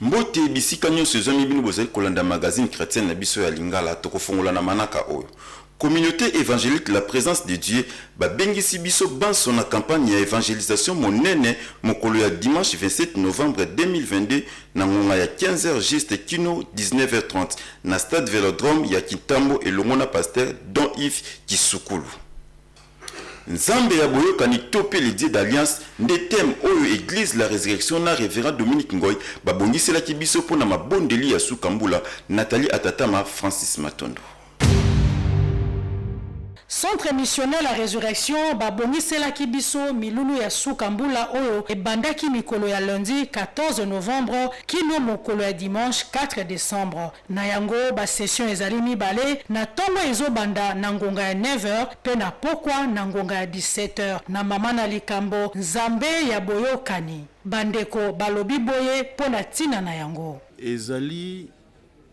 Mbote bisika nionso ezwami bino bozali kolanda magazine chretienne na biso ya lingala tokofongola na manaka oyo communaute evangelique la presence de Dieu babengisi biso banso na campagne ya evangelisation monene mokolo ya dimanche 27 novembre 2022 na ngonga ya 15 heures juste kino 19 heures 30 na stade velodrome ya kintambo elongo na pasteur Don Yves kisukulu. Nzambe ya boyokani to pe le Dieu d'alliance nde thème oyo eglise la resurrection na Reverend Dominique Ngoy babongiselaki biso mpo na mabondeli ya suka mbula. Nathalie Atatama, Francis Matondo. Centre Missionnaire la Resurrection babongiselaki biso milulu ya suka mbula oyo ebandaki mikolo ya lundi 14 novembre kino mokolo ya dimanche 4 decembre. Na yango, ba sessions ezali mibale, na tongo ezo banda na ngonga ya 9 heures mpe na pokwa na ngonga ya 17 heures. Na mama na likambo, Nzambe ya boyokani, ba ndeko balobi boye mpo na tina na yango. Ezali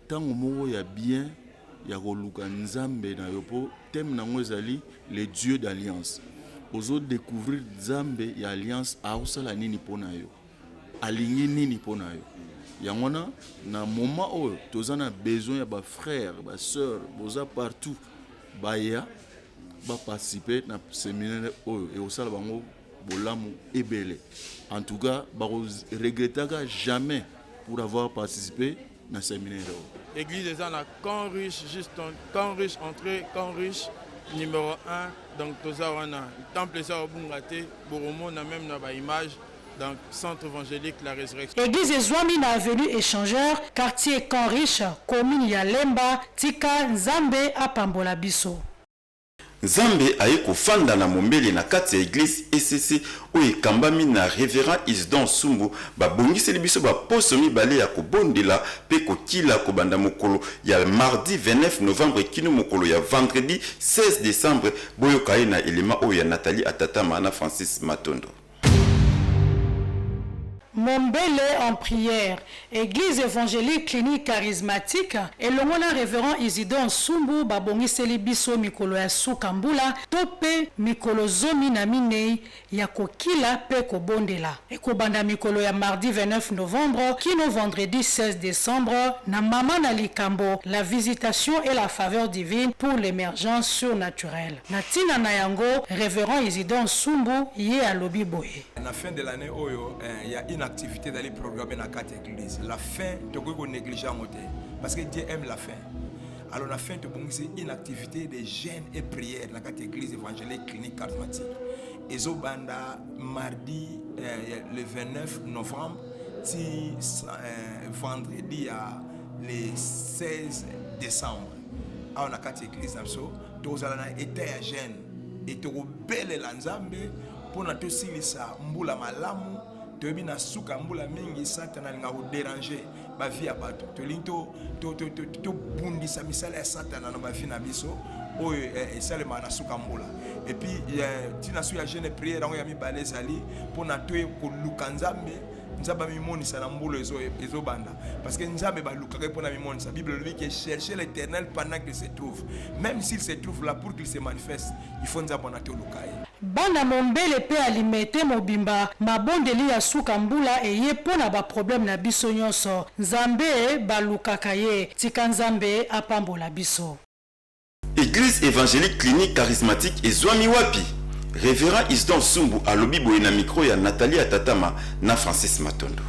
tango moko ya bien ya koluka Nzambe na yo mpo thème na yango ezali le Dieu d'alliance. Ozo decouvrir Nzambe ya alliance, aosala nini mpo na yo? alingi nini mpo na yo yango wana na moment oyo toza na besoin ya ba frère ba sœur boza partout baya baparticipe na seminaire oyo ekosala bango bolamu ebele en tout cas bakoregretaka jamais pour avoir participe na seminaire oyo. Eglise eza na camp riche juste camp riche entrée camp riche numéro 1 donc toza wana temple eza obunga te bokomona meme na ba image donc centre évangélique la résurrection Eglise ezwami na avenue Echangeur, quartier Camp Riche, commune ya Lemba. Tika Nzambe apambola biso. Nzambe aye kofanda na mombele na kati ya eglise ECC oyo ekambami na Reverend Isidore Nsumbu babongiseli biso ba poso mibale ya kobondela pe kokila kobanda mokolo ya mardi 29 novembre kino mokolo ya vendredi 16 decembre boyoka ye na element oyo ya Nathalie Atatama na Francis Matondo. Mombele en prière. Eglise evangelique clinique charismatique elongo na Reverend Isidore Nsumbu babongiseli biso mikolo ya suka mbula to pe mikolo zomi na minei ya kokila pe kobondela. Ekobanda mikolo ya mardi 29 novembre kino vendredi 16 decembre na mama na likambo La visitation et la faveur divine pour l'emergence surnaturel. Na tina na yango, Reverend Isidore Nsumbu ye alobi boye. Na fin de l'annee oyo eh, ya une activite ezali programmee na kati ya eglise. La fin tokoki ko negliger yango te parce que Dieu aime la fin. Alors na fin tobongisi une activite de jeûne et prière na kati ya eglise evangelique clinique charismatique. Ezobanda mardi eh, le 29 novembre ti eh, vendredi ya le 16 décembre awa na kati ya eglise na biso tozala na eta ya gene e tokobelela nzambe mpo na tosilisa mbula malamu toyebi na suka mbula mingi satana alinga koderange bavi ya bato tolingi tobundisa misala ya satana na bavi na biso oyo eh, esalemaka na suka mbula epuis eh, ntina so ya jeune priere yango ya mibale ezali mpo na toye koluka nzambe nzambe amimonisa na mbula ezobanda parce que nzambe balukaka ye mpo na mimonisa bible elobi ke chercher l'éternel pendant qu'il se trouve même s'il se trouve là pour qu'il se manifeste il faut nzambe wana toluka ye bana mombele mpe alimete mobimba mabondeli ya suka mbula eye mpo na baproblème na biso nyonso nzambe balukaka ye tika nzambe apambola biso Eglise evangelique clinique charismatique ezuami wapi? Reverend Isidore Nsumbu alobi boye na micro ya Nathalie Atatama na Francis Matondo.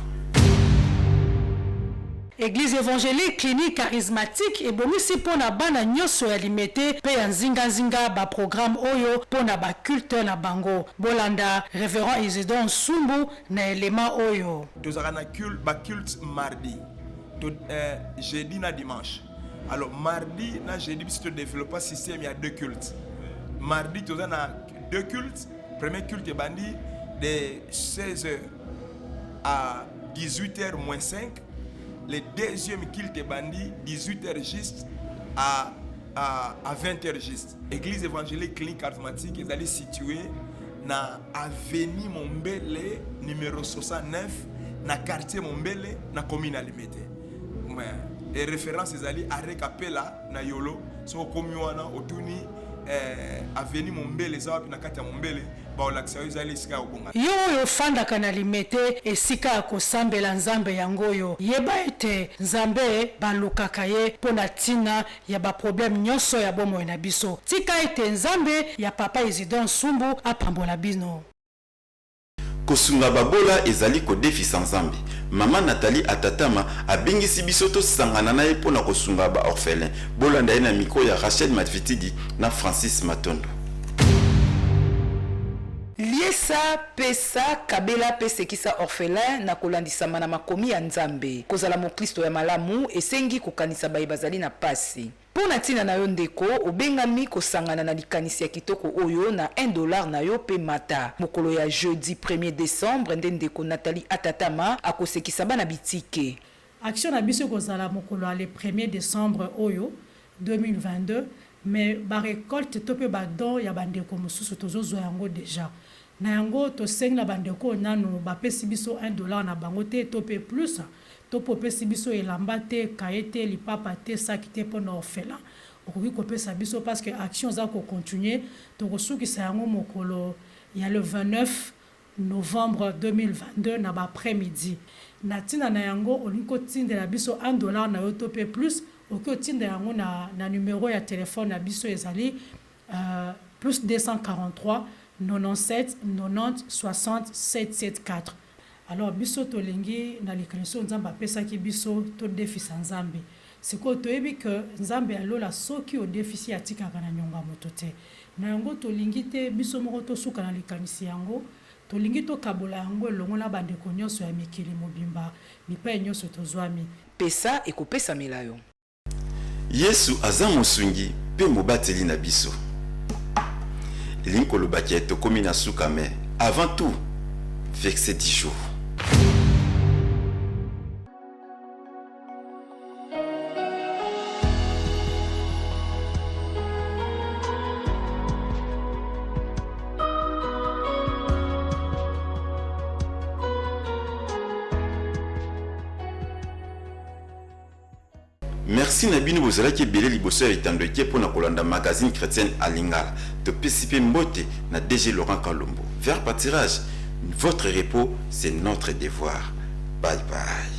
Eglise evangelique clinique charismatique ebongisi mpo na bana nyoso ya Limete mpe ya nzinga nzinga ba programmes oyo mpo na ba cultes na bango. Bolanda Reverend Isidore Nsumbu na element oyo. Tozalaka na ba cultes mardi, jeudi na dimanche. alors mardi na jeudi biso to développa système ya deux cultes mardi toza na deux cultes premier culte ebandi de 16 h à 18 h moins 5 le deuxième culte ebandi 18 h juste à, à, à 20 h juste Eglise evangelique clinique charismatique ezali situe na avenue Mombele numero 69 na quartier Mombele na commune ya Limete. E reference ezali arrêt Kapela na Yolo. Soki okomi wana otuni eh, avenue Mombele eza wapi na kati ya Mombele baolakisa yo ezali esika ya kobonga. Yo oyo ofandaka na Limete, esika ya kosambela Nzambe yango oyo, yeba ete Nzambe balukaka ye mpo na ntina ya ba problème nioso ya bomoi na biso tika ete nzambe ya papa isidore nsumbu apambola bino. Kosunga babola ezali kodefisa Nzambe. Mama Nathalie Atatama abengisi biso tosangana na ye mpo na kosunga ba orphelins. Bolanda ye na micro ya Rachel Madvitidi na Francis Matondo. Liesa Pesa, kabela, mpe sekisa orphelin na kolandisama na makomi ya Nzambe. Kozala moklisto ya malamu esengi kokanisa baye bazali na pasi. Mpo na ntina na yo ndeko, obengami kosangana na likanisi ya kitoko oyo na un dollar na yo mpe mata. Mokolo ya jeudi premier decembre nde ndeko Nathalie Atatama akosekisa bana bitike. Action na biso ekozala mokolo ya le premier decembre oyo 2022 mais ba recoltes to pe ba dons ya ba ndeko mosusu tozo zwa yango dejà. Na yango tosengi na ba ndeko oyo nanu ba pesi biso un dollar na bango te to pe plus to pe opesi biso elamba te, cahier te, lipapa te, sac te pona orphelin okoki kopesa biso parce que action eza ko continuer tokosukisa yango mokolo ya le 29. Novembre 2022 na ba après midi. Na tina na yango olingi ko tindela biso un dollar na yo to pe plus, okoki otinda yango na na numero ya telephone na biso ezali +243 97 90 60 774. Alors biso tolingi na likanisi oyo Nzambe apesaki biso to defisa Nzambe. Sikoyo toyebi que Nzambe ya lola soki odefisi atikaka na niongo ya moto te. Na yango tolingi te biso moko tosuka na likanisi yango, tolingi tokabola yango elongo na bandeko nionso ya mikili mobimba bipai nionso tozwami. Pesa, ekopesamela yo. Yesu aza mosungi pe mobateli na biso elingi koloba ke tokomi na suka mais avant tout verset du jour. merci na bino bozalaki ebele liboso ya etando ete mpo na kolanda magazine chrétienne à lingala topesi mpe mbote na dg laurent kalombo vers patirage votre repos c'est notre devoir bye bye